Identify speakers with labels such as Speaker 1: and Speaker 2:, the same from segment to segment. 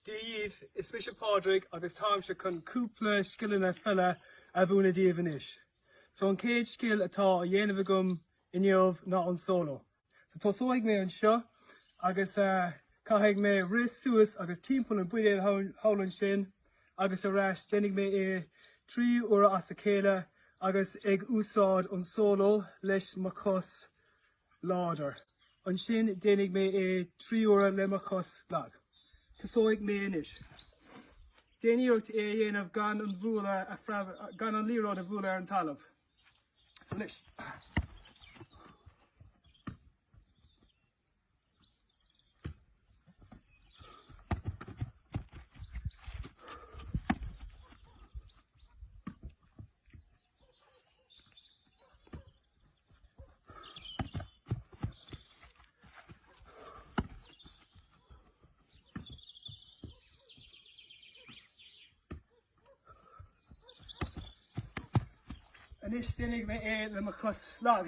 Speaker 1: Dia dhíbh, is mise Pádraig agus táimse chun cúpla scileanna peile a mhúineadh díbh anois. So an chéad scil atá á dhéanamh agam inniu ná an solo. So tosóidh mé anseo agus caithfidh mé rith suas agus timpeall an bhuidéil thall ansin agus ar ais, déanfaidh mé é trí huaire as a chéile agus ag úsáid an solo leis mo chos láidir. Ansin déanfaidh mé é trí huaire le mo chos lag. Tosóidh mé anois. Déan iarracht é a dhéanamh gan an bhualadh a phreabadh, gan an liathróid a bhualadh ar an talamh. Anois. Anois déanfaidh mé é le mo chos lag.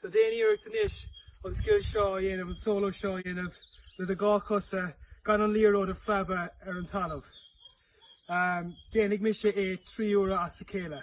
Speaker 1: So déan iarracht anois an scil seo a dhéanamh, an solo seo a dhéanamh le do dhá chosa gan an liathróid a phreabadh ar an talamh. Déanfaidh mise é trí huaire as a chéile.